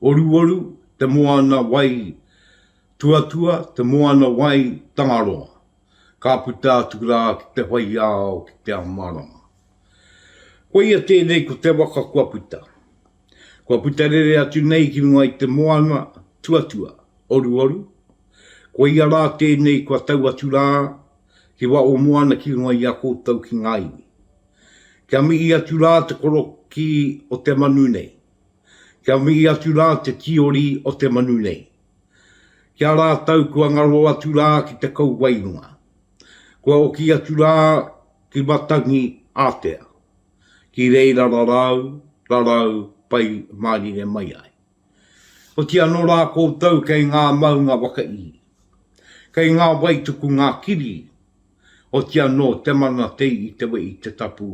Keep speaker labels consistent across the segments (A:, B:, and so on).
A: Oruoru, te moana wai tuatua, te moana wai Tangaroa, ka puta atu rā ki te whaiao, ki te amarama. Koia tēnei ko te waka kua puta. Kua puta rere atu nei ki runga i te moana tuatua, Oruoru, koia rā tēnei kua tau atu rā ki wa o moana ki runga i a koutou ki ngā iwi. Kia mihi atu rā te korokī o te manu nei. Kia mihi atu rā te tīori o te manu nei. Ki a rātou kua ngaro atu rā ki te kauwairunga. Kua oki atu rā ki Matangi Ātea, ki reira rarau, rarau pai mārire mai ai. Oti anō rā koutou kei ngā maunga waka ihi. Kei ngā wai tuku ngā kiri, oti anō te mana tei i te wehi te tapu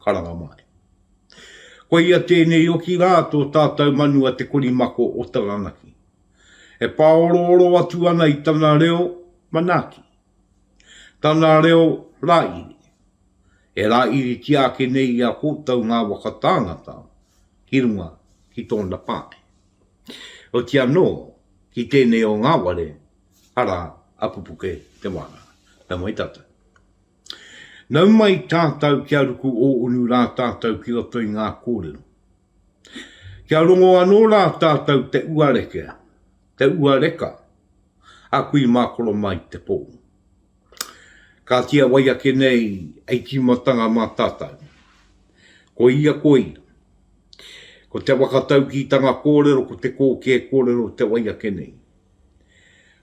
A: karanga mai. Koia tēnei oki rā tō tātau manu a Te Korimako o Taranaki, e pāorooro atu ana i tana reo manaaki, tana reo rāiri, e rāiritia ake nei i a koutou ngā waka tāngata ki runga ki tōna pae. Oti anō, ki tēnei o Ngāware, arā, a Pupuke Te Wānanga. Nau mai tātau. Nau mai tātou kia ruku ōunu rā tātou ki roto i ngā kōrero. Kia rongo anō rā tātou te uareke, te uareka a kui mā koro mai te pō. Kāti a wai ake nei hei tīmatanga mā tātou. Koia koi, ko te whakataukītanga kōrero ko te kōkē kōrero te wai ake nei.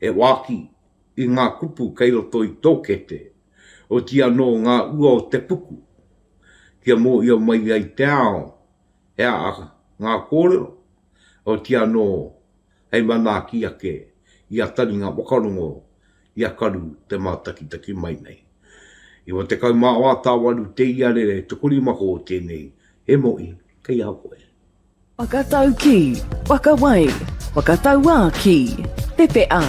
A: e wāki i ngā kupu kei roto i tō kete, oti anō ngā ua o te puku, kia mōhio mai ai te ao he aha ngā kōrero, oti anō hei manaaki ake i a taringa whakarongo i a Karu te mātakitaki mai nei. I wa tekau mā wā tāwaru te iarere tukurima hō tēnei, he mohi kei a koe. Whakatau ki, whakawai, whakatauā ki, pepeʻa,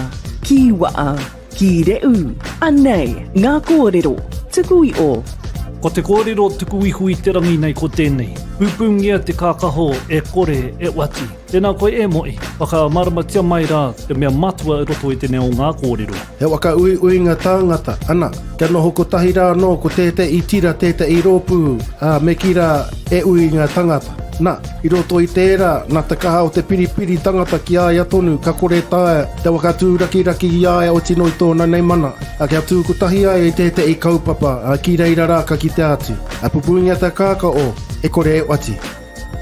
A: kīwaʻa, kīreʻu, anei ngā kōrero tuku i ō. Ko te kōrero tuku iho i te rangi nei ko tēnei, Pūpūngia te kākaho e kore e oati. Tēnā koe e Moʻi, whakamāramatia mai rā te mea matua i roto i tenei o ngā kōrero. He waka uiuinga tāngata, ana, kia noho kotahi rā anō ko tēteʻi tira, tēteʻi rōpū, ā, me kī rā, e ui i ngā tāngata. Na, i roto i tērā, nā te kaha o te piripiri tangata ki a ia tonu ka kore taea te waka tūrakiraki i a ia oti noa i tōna nei mana, ā, kia tū kotahi ai i tēteʻi kaupapa, ā, ki reira rā ka kitea atu, ā, pupungia te kāka o, e kore e oati.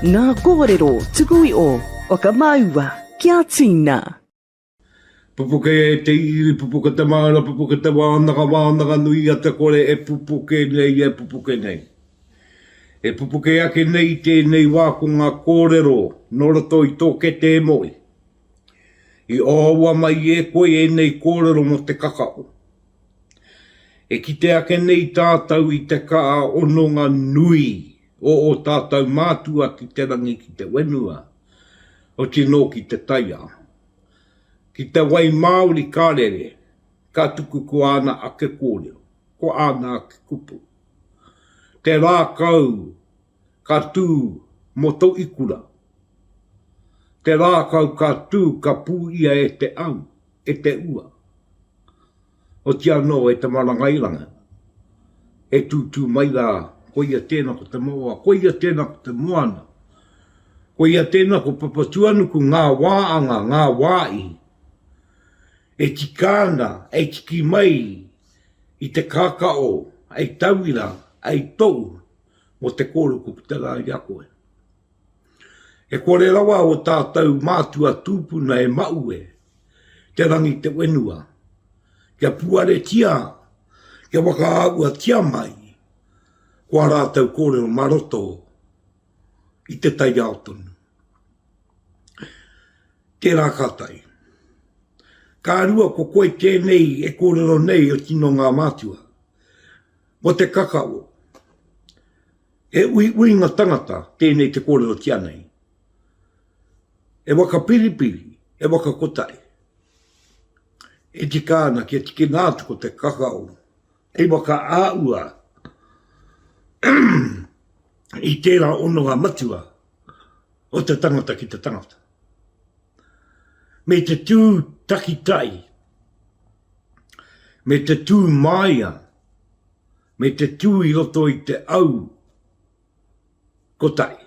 A: Ngā kōrero tuku iho, whakamāua kia tīna. Pupuke te iri, pupuke te māra, pupuke te wānanga, wānanga nui i a Te Kore e pupuke nei, e pupuke nei. E pupuke ake nei i tēnei wā ko ngā kōrero nō roto i tō kete e Moe. I ōaua mai e koe ēnei kōrero mō te kakao. E kite ake nei tātou i te kaha hononga nui o ō tātou mātua ki te rangi ki te whenua, oti nō ki te taiao. Ki te wai māori ka rere, ka tuku ko āna ake kōrero, ko āna ake kupu. Te rākau ka tū mō tō ikura. Te rākau ka tū ka pū ia e te au, e te ua. Oti anō e te marangairanga, e tūtū mai rā, koia tēnā ko te maoa, koia tēnā ko te moana, koia tēnā ko Papatūanuku, ngā wā anga, ngā wā i, e tika ana, e tiki mai i te kākao, hei tauira, hei tou, mō te kōrero ko puta rā i a koe. He kore rawa o tātou mātua tūpuna e Maue, Te Rangitewenua, kia puaretia, kia whakaāhuatia mai ko ā rātou kōrero mā roto i te taiao tonu. Tērā ka tae. Ka rua ko koe tēnei e kōrero nei o tino ngā mātua. Ko te kakao. He uiuinga tangata tēnei te kōrero ki a nei. He waka piripiri, he waka kotahi. E tika ana kia tikina atu ko te kakao hei waka āua i tērā ononga matua o te tangata ki te tangata. Me te tū takitai, me te tū māia, me te tū i roto i te au kotahi,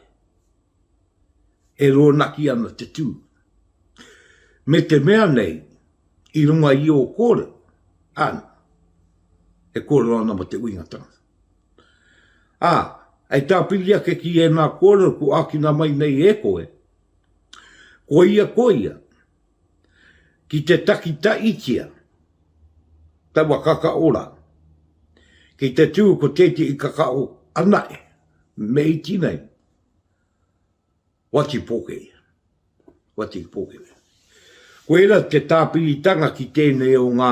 A: e rōnaki ana te tū. Me te mea nei, i runga i ō kōrero, āna, e kōrero ana mō te uinga tangata. Ā, hei tāpiri ake ki ēnā kōrero kua ākina mai nei e koe, koia koia, Ki te takitahitia taua kakaora, ki te tū ko tētehi kakao anahe me iti nei, wati poke ia, wati poke ia. Koira te tāpiritanga ki tēnei o ngā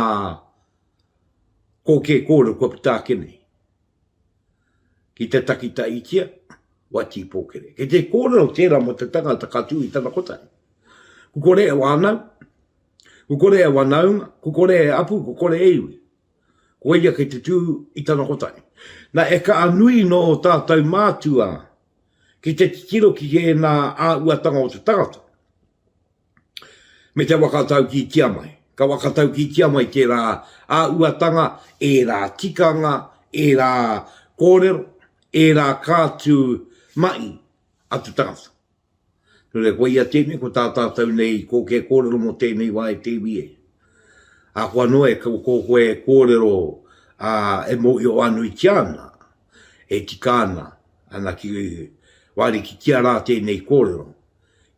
A: kōkē kōrero kua puta ake nei. ki te takitahitia wa tīpōkere. Kei te kōrero tērā mō te tangata ka tū i tana kotahi. Ku kore e wānau, ku kore e wanaunga, ku kore e apu, ku kore e iwi. Ko ia kei te tū i tana kotahi. Na e ka anui nō o tātou mātua ki te titiro ki ēnā āhuatanga o te tangata. me te whakataukītia mai. Ka whakataukītia mai tērā āhuatanga, ērā tikanga, ērā kōrero, ērā kātū mahi a te tangata. Nō reira, koia tēnei, ko tā tātou nei kōkē kōrero mō tēnei wā e te iwi e. Ahakoa noa e ko koe e kōrero e mōhioanuitia ana, e tika ana, ana ki wārikitia rā tēnei kōrero,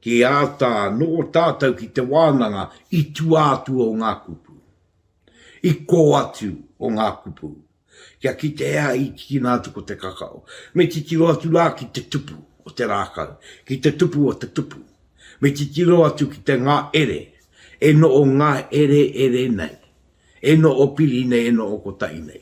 A: Kei āta noho tātou ki te wānanga i tua atu o ngā kupu, i kō atu o ngā kupu, kia kite hea i tīkina atu ko te kakao. Me titiro atu rā ki te tupu o te rākau, ki te tupu o te tupu. Me titiro atu ki te ngā ere, e noʻo ngā ere ere nei, e noʻo piri nei, e noʻo kotahi nei.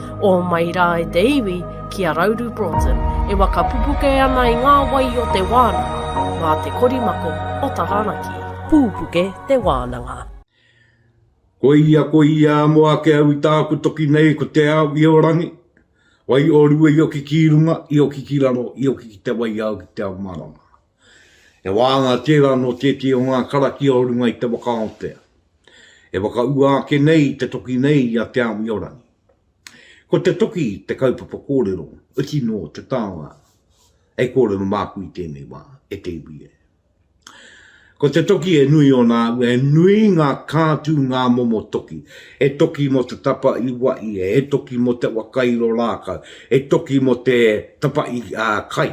A: O mai rā e te iwi ki a Rauru Broughton e waka pupuke ana i ngā wai o te wānanga, mā te korimako o Taranaki. Pūpuke te wānanga. Koia, koia, mo ake au i tāku toki nei ko te ao i o rangi, wai o rua i oki ki runga, i oki ki raro, i oki ki te wai au ki te ao marama. He wāhanga tērā nō tētehi o ngā karakia o runga i te waka Aotea, e whakaua ake nei i te toki nei i a Te Awiorangi. Ko te toki te kaupapa kōrero, oti nō te taonga, hei kōrero māku i tēnei wā, e te iwi e. Ko te toki he nui ōna aua, he nui ngā kātū, ngā momo toki. He toki mō te tapa i Waia, he toki mō te waka i Rorākau, he toki mō te tapa i Kai,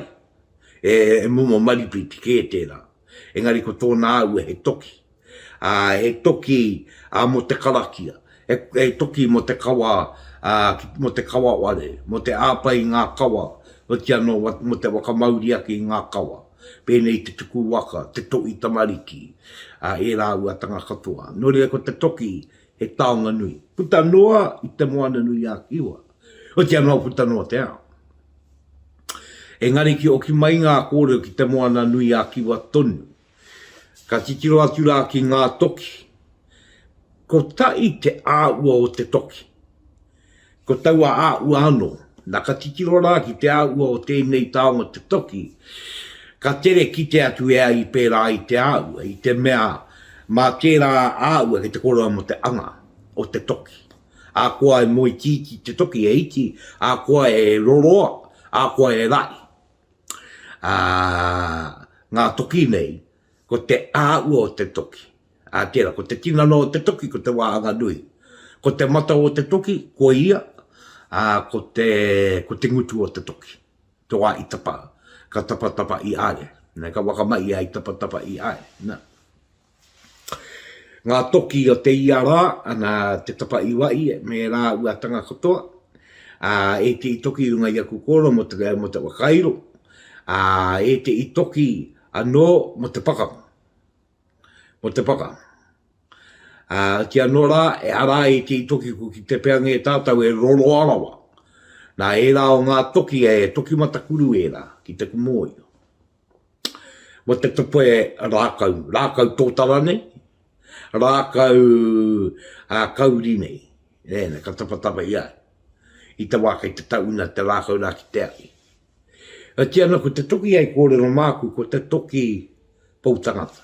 A: He momo maripiti kē tērā, engari ko tōna aue he toki, ā, he toki mō te karakia, he toki mō te kawa, ā, mō te kawa ware, mō te āpa i ngā kawa, oti anō mō te whakamauri ake i ngā kawa, pēnei te tuku waka, te toʻi tamariki, ā, e rāuatanga katoa. Nō reira ko te toki he taonga nui. Puta noa i Te Moananui-a-Kiwa. o te anō puta noa te ao. Engari ki oki mai ngā kōrero ki Te Moana nui a Kiwa tonu, ka titiro atu rā ki ngā toki. Ko taʻi te āʻua o te toki. Ko taua āʻua anō, na ka titiro rā ki te āʻua o tēnei taonga te toki, ka tere kite atu e ai pērā i te āʻua, i te mea mā tērā āʻua ki te kōrero mo te anga o te toki. ā koa e moe tīti te toki e iti, ā koa e roroa, ā koa e rahi. Ā, ngā toki nei, ko te āhua o te toki, ā, tērā, ko te tinana o te toki, ko te wāhanga nui. Ko te mata o te toki, ko ia, ā, ko te, ko te ngutu o te toki. Te wā i tapa, ka tapatapa i a ia. Nē, ka whakamahia i tapatapa i a ia. Nā. Ngā toki o te ia rā, ana te tapa i wahi me rāua tanga katoa, ā, e te i toki runga i aku kōrero mō te, mō te whakairo, ā, e te i toki anō mō te pakanga, mō te pakanga. Ā, ki anō rā, e ara ai te i toki ko ki te peange e tātou e roroa rawa. Nā, ērā o ngā toki e toki matakuru ērā ki te kumōio. mō te tope rākau, rākau tōtara nei, rākau ā, kauri nei, nē, ka tapatapa i a, i te wā kei te tauna te rākau rā ki te ahi. Ā, tiana ko te toki hei kōrero māku, ko te toki pou tangata.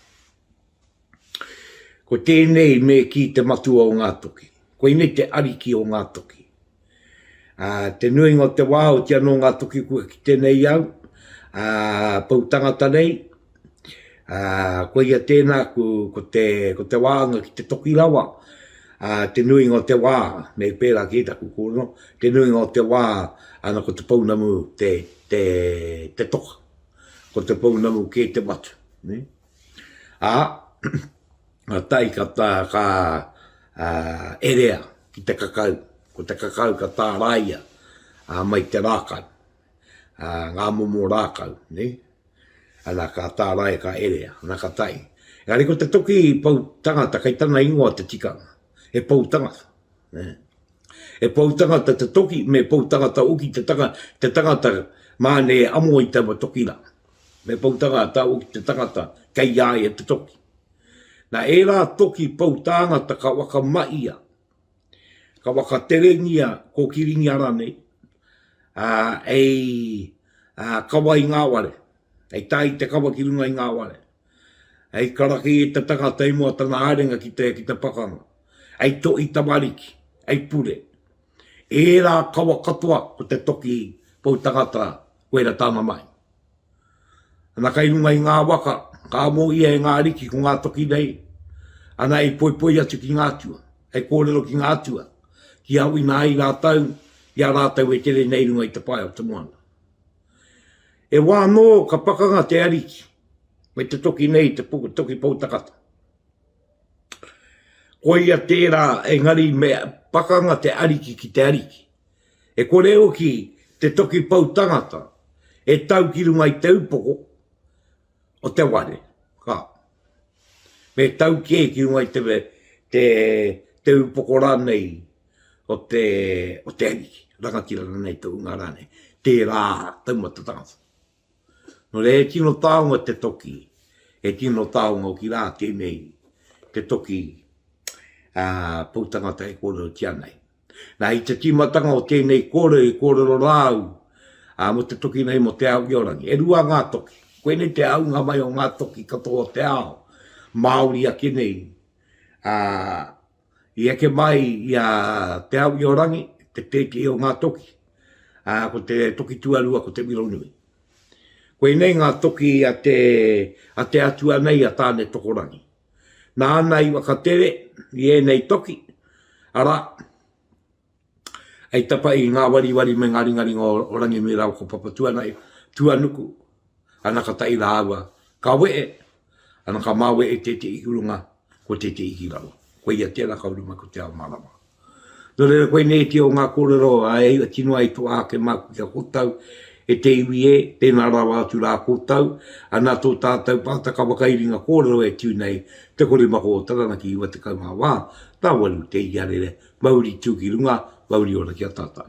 A: Ko tēnei me kī te Matua o ngā toki. Koinei te Ariki o ngā toki. Ā, te nuinga o te wā, ooti anō ngā toki kua kite nei au, ā, pou tangata nei, ā, koia tēnā, ko, ko te, ko te wāanga ki te toki rawa, ā, te nuinga o te wā, me pērā kē taku kōrero, te nuinga o te wā, ana ko te pounamu te, te, te toka. Ko te pounamu kē te watu. Nē? Ā, ka tae ka tā, ka erea ki te kakau, ko te kakau ka tāraia mai te rākau, ngā momo rākau, nē? Ana ka tāraia ka erea, ana ka tae. Engari ko te toki pou tangata kei tana ingoa te tikanga, he pou tangata, nē? He pou tangata te toki, me pou tangata hoki te tangata, te tangata māne amo i taua toki rā. Me pou tanga tāua ki te tangata kei a ia te toki. Na ērā toki pou tāngata ka whakamahia, ka whakaterengia kōkiringia ranei, a, hei, a, kawa i ngā ware, hei tae i te kawa ki runga i ngā ware. Hei karaki e te tangata i mua tana haerenga ki te, ki te pakanga. Hei tohi tamariki, hei pure. Ērā kawa katoa ko te toki pou tangata koera tana mahi. Ana kai runga i ngā waka, ka mōhia e ngā ariki ko ngā toki nei, ana hei poipoi atu ki ngā atua, hei kōrero ki ngā atua, ki awina ai rātou, i a rātou e tere nei runga i te pae o te moana. E wā anō ka pakanga te Ariki me te toki nei te puku toki poutakata. Koia tērā engari me pakanga te Ariki ki te Ariki. E kore hoki te toki poutangata e tau ki runga i te upoko, o te ware, ka. Me tau kē ki runga i te, te, te upoko rānei o te, o te Ariki, rangatira rānei, tohunga rānei, tērā taumata tangata. Nō reira, he tino taonga te toki, he tino taonga hoki rā tēnei, te toki ā, pou tangata e kōrerotia nei. Na, i te tīmatanga o tēnei kōrero i kōrero rā au mō te toki nei mō Te Aogeorangi. E rua ngā toki. Koinei te aunga mai o ngā toki katoa o te ao, Māori ake nei. I eke mai i a Te Aogeorangi, te tētehi o ngā toki, ko te toki tuarua ko Te Wironui. Koinei ngā toki a te atua nei a Tāne Tokorangi. nāna i whakatere i ēnei toki, arā, hei tapa i ngā wariwari me ngā ringaringa o Ranginui rāua ko Papatuanui, tuanuku, ana ka taʻi rāua, ka wehe, ana ka māwehe tēteʻi ki runga, ko tēteʻi ki raro. Koia tērā ka uru mai ko Te Ao Mārama. Nō reira koinei te o ngā kōrero a Ehi e tino ai toa ake māku ki a koutou, E te iwi e, tēnā rawa atu rā koutou, ana tō tātou pātaka whakairinga kōrero e tū nei, te korimako o Taranaki iwa tekau mā wā, tāwaru te Ihiarere, mauri tū ki runga, mauri ora ki a tātou.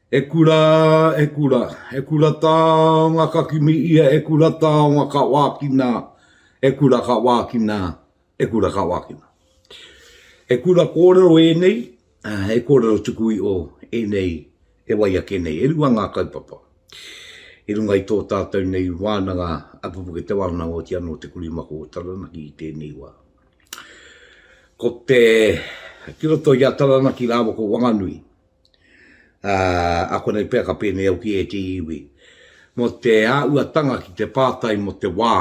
A: E kura, e kura, e kura taonga ka kimi ia, e kura taonga ka wākina, e kura ka wākina, e kura ka wākina. He kura kōrero ēnei, he kōrero tuku i o ēnei e wai ake nei. E rua ngā kaupapa i runga i tō tātou nei wānanga a Pupuke Te Wānanga o Tiana o Te Kurimako o Taranaki i tēnei wā. Ko te, ki roto i a Taranaki rāua ko Wanganui, Ā, ākonei pea ka pēnei au ki ētehi iwi, mō te āhuatanga ki te pātai mō te wā,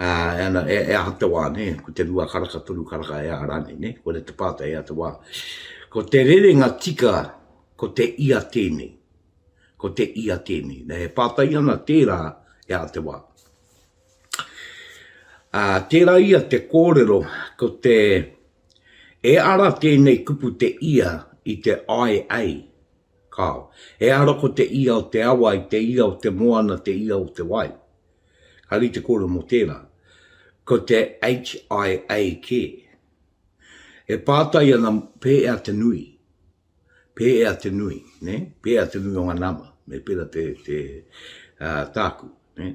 A: ā, e ana, e, e aha te wā, nē, ko te rua karaka, toru karaka, e aha rānei, nē, koina te pātai, e aha te wā. Ko te rerenga tika, ko te ia tēnei, ko te ia tēnei. Nē, e pātai ana tērā, e aha te wā. Ā, tērā ia te kōrero, ko te, E ara tēnei kupu te ia i te ae ei, kao. E ara ko te ia o te awa i te ia o te moana te ia o te wai. Ka rite kore mo tera. Ko te HIA ke. E pātai ana pē ea te nui. Pē ea te nui, ne? Pē ea te nui o nga nama. Me pera te, te, a, tāku, ne?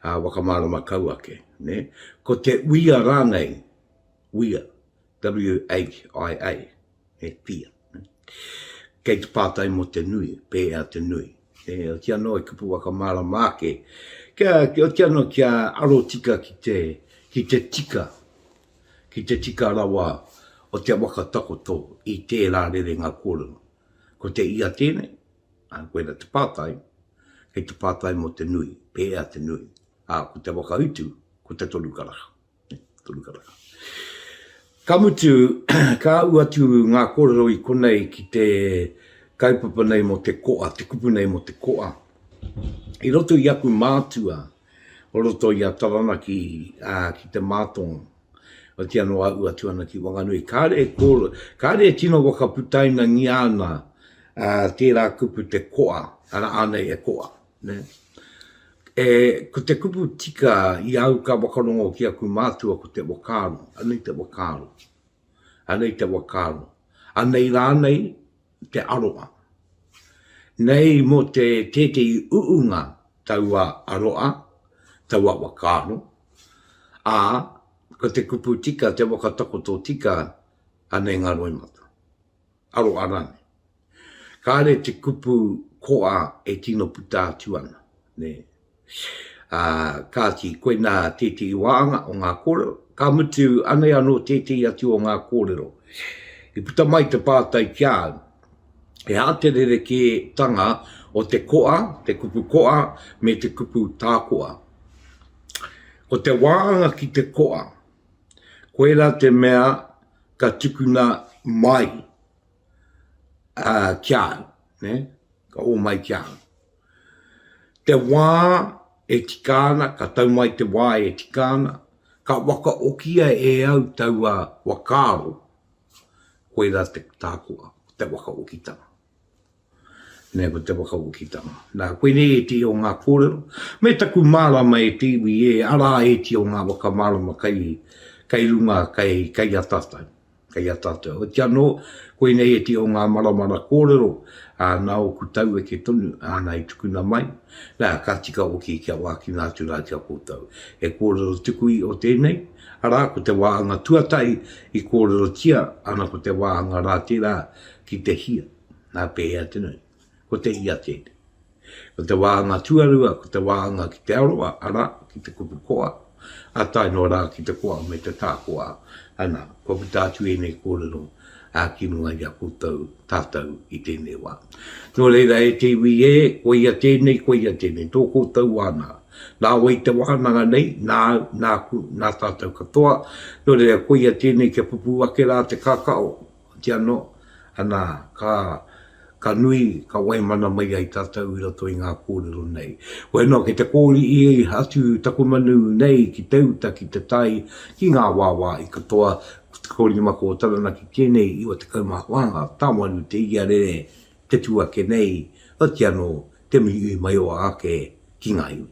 A: A, wakamarama kau ake, ne? Ko te uia rānei wia, W-H-I-A, he pia. Kei te pātai mō te nui, pēhea te nui. E oti anō e kupu whakamārama ake, kia, kia oti anō kia aro tika ki te, ki te tika, ki te tika rawa o te waka takoto i tērā rerenga kōrero. Ko te ia tēnei, ā, koina te pātai, kei te pātai mō te nui, pēhea te nui. Ā, ko te whakautu, ko te toru karaka. Ka mutu, ka ū atu ngā kōrero i konei ki te kaupapa nei mō te koa, te kupu nei mō te koa. I roto i aku mātua o roto i a Taranaki ki Te Mātonga, otiia noa ū atu ana ki Wanganui, kāre e kōrero, kāre e tino whakaputainangia ana tērā kupu te koa, arā anei e koa. Ko te kupu tika i au ka whakarongo ki aku mātua ko te whakaaro, anei te whakaaro, anei te whakaaro, anei rānei te aroha. Nei mō te tētehi uunga taua aroha, taua whakaaro, ā, ko te kupu tika, te whakatakoto tika, anei ngā roimata. aro a Rane. Kāre te kupu koa e tino puta atu ana, nē. Ā, kāti, koinā tētehi wāhanga o ngā kōrero, ka mutu, anei anō tētehi atu o ngā kōrero. I puta mai te pātai ki a au, he aha te rerekētanga o te koa, te kupu koa, me te kupu tākoa? Ko te wāhanga ki te koa, koirā te mea ka tukuna mai ki a au, ka ō mai ki a au. Te wā e tika ana, ka tau mai te wā e tika ana, ka wakaokia e au taua whakaaro, koirā tāku te wakaokitanga. Nei ko te whakawokitanga. Nā, koe nei e ti o ngā kōrero, me taku mārama e te iwi e, arā e ti o ngā whakamārama kai, kai runga, kai, kai a tātou, kai a tātou. Oiti anō, koe nei e ti o ngā maramara kōrero, ā, nā ōku taueke tonu, āna i tukuna mai, nā, ka tika hoki kia wākina atu rā ki a koutou. He kōrero tuku iho tēnei, arā, ko te wāhanga tuatahi i kōrerotia, ana ko te wāhanga rā tērā, Ki te hia, nā pēhea te nui? Ko te hia tēnei. Ko te wāhanga tuarua, ko te wāhanga ki te aroha, arā, ki te kupu koa, ā, tae noa rā ki te koa me te tākoa. Anā, kua puta atu ēnei kōrero, ā, ki runga i a koutou, tātou, i tēnei wā. Nō reira, e te iwi ē, koia tēnei, koia tēnei, tō koutou wānanga. Nāua i te wānanga nei, nā au, nāku, nā tātou katoa, nō reira, koia tēnei kia pupū ake rā te kakao, Hoki anō, anā, ka, ka nui, ka waimana mai ai tātou i roto i ngā kōrero nei. Koia noa, kei te kōrihi atu taku manu nei ki te uta, ki te tai, ki ngā wāwā i katoa, ko 5 ko Taranaki tēnei, 94 ngā tāwāru te iarere, te tū ake nei, hoki anō, te mihi i maioa ake ki ngā iwi.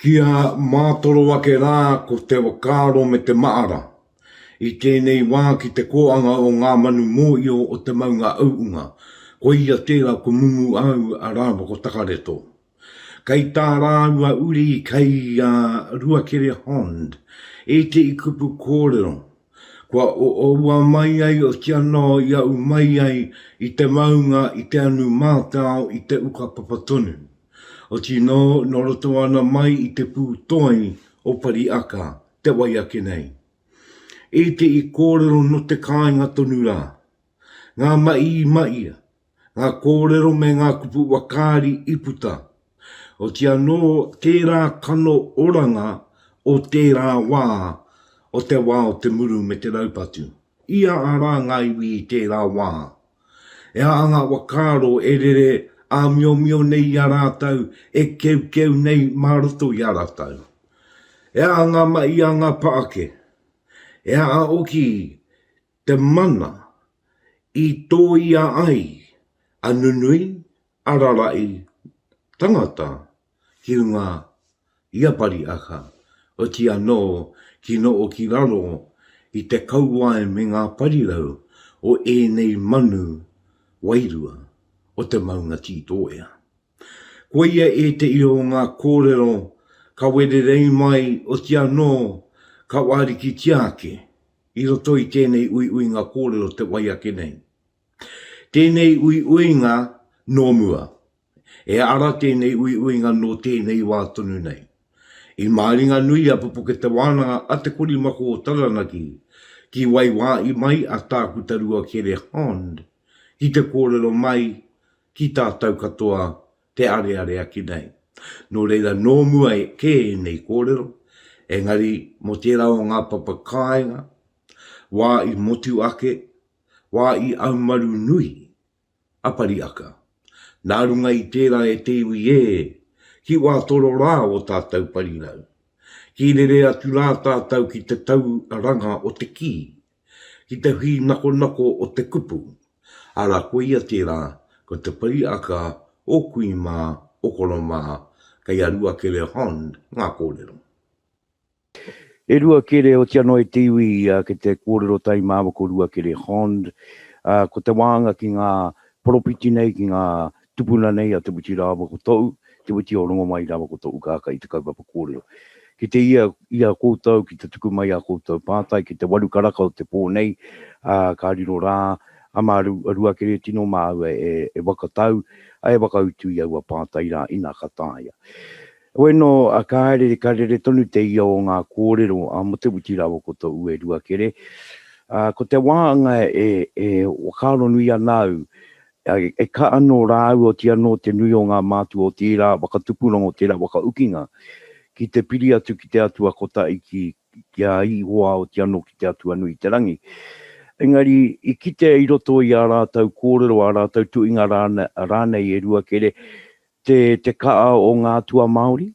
A: Kia mātoro ake rā ko te whakaaro me te mahara i tēnei wā ki te kōanga o ngā manu mōhio o te maunga auunga, koia tērā ko Mumu au a Rāwhako Takareto. Kei tā rāua uri kei a Ruakere Hond ētehi kupu kōrero kua oua mai ai oti anō i aʻu mai ai i te maunga i te anu mātao i te uka papa tonu. Oti no, no roto ana mai i te pū toi o Pariaka, te wai ake nei. I te i kōrero no te kāinga tonu rā. Ngā maʻi i maʻia, ngā kōrero me ngā kupu wakaari i puta. Oti anō tērā kano oranga o tērā wā, o te wā o te muru me te raupatu. Ia ara ngā iwi i tērā wā, E aha ngā whakaaro e rere āmiomio nei i a rātou, e keukeu nei mā roto i a rātou? E aha ngā mahi a ngā pā ake? E aha hoki te mana i tōia ai a nunui, a rarahi, tangata, hiunga i a Pariaka, oti anō ki noho ki raro i te kauae me ngā parirau o ēnei manu wairua o te maunga Tītoea. Koia ētehi o ngā kōrero ka wererei mai oti anō ka wārikitia ake i roto i tēnei uiuinga kōrero te wai ake nei. Tēnei uiuinga nō mua. E ara tēnei uiuinga nō tēnei wā tonu nei. I Māringanui a Pupuke Te Wānanga a Te Korimako o Taranaki ki waiwāi mai a Tākuta Rua Kere Hond ki te kōrero mai ki tātau katoa te areare ake nei. Nō reira nō mua kē ēnei kōrero, engari mō tērā o ngā papa kāinga, wā i motu ake, wā i aumaru nui, Apariaka. Nā runga i tērā e te iwi ē, ki wā toro rā o tātou parirau. Ki rere atu rā tātou ki te tau ranga o te kī, ki te hī nakonako o te kupu, ara koia tērā ko te pariaka o kui mā, o koro mā, kei a Ruakere Hon ngā kōrero. E rua kere, otia noa i te iwi ki te kōrero tai mā ko rua kere Hond, ā, ko te wānga ki ngā poropiti nei, ki ngā tupuna nei a Te Witi rāua ko Toʻu, Te Witi o Rongomai rāua ko Toʻu Kākā i te kaupapa kōrero. Ki te ia i a koutou ki te tuku mai ā koutou pātai ki te waru karaka o te pō nei, ā, ka riro rā, a mā rua kere tino māua e whakatau, ā, e whakautu i aua pātai rā, inā ka taea. Heoi no, ka haere ka rere tonu te ia o nga korero a Mutewiti rawa ko to Ue Ruakere. Ko te waanga e whakaaro nui ana au, e ka ano ra au oti ano te nui o nga mātua o tera whakatupuranga o tera whakaukinga ki te piri atu ki te Atua Kota Iki ki a Ihowa oti ano ki te Atua Nui te Rangi. Engari i kitea i roto i a ratou korero a ratou tuinga ranei e Ruakere Te te kaa o nga atua Maori?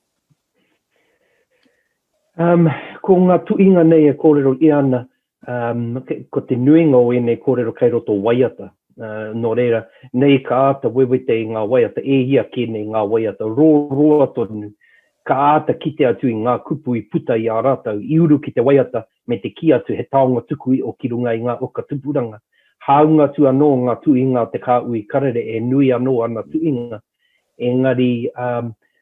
A: Um, ko nga tuinga nei e korero ia ana, um, ko te nuinga o enei korero kei roto waiata. Uh, no reira, nei ka ata wewete i nga waiata, e ia ke nei nga waiata, ro roa tonu, ka ata kite atu i nga kupu i puta i a ratau, i uru ki te waiata, me te kī atu he taonga tuku iʻo ki runga i ngā uka tupuranga, hāunga atu anō ngā tuhinga o te kāhui karere e nui anō ana tuhinga, engari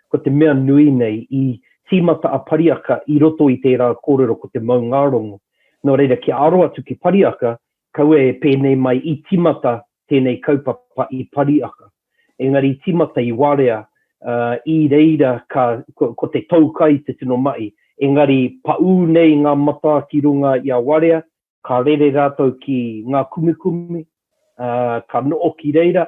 A: ko te mea nui nei, i tīmata a Pariaka i roto i tērā kōrero ko te maungārongo. Nō reira, kia aro atu ki Pariaka, Kaua e pēnei mai i tīmata tēnei kaupapa i Pariaka, engari i tīmata i Warea, ā, i reira ka, ko, ko te tou kai te tino mahi. Engari paū nei ngā matā ki runga i a Warea, ka rere rātou ki ngā kumikumi, ā, ka noho ki reira,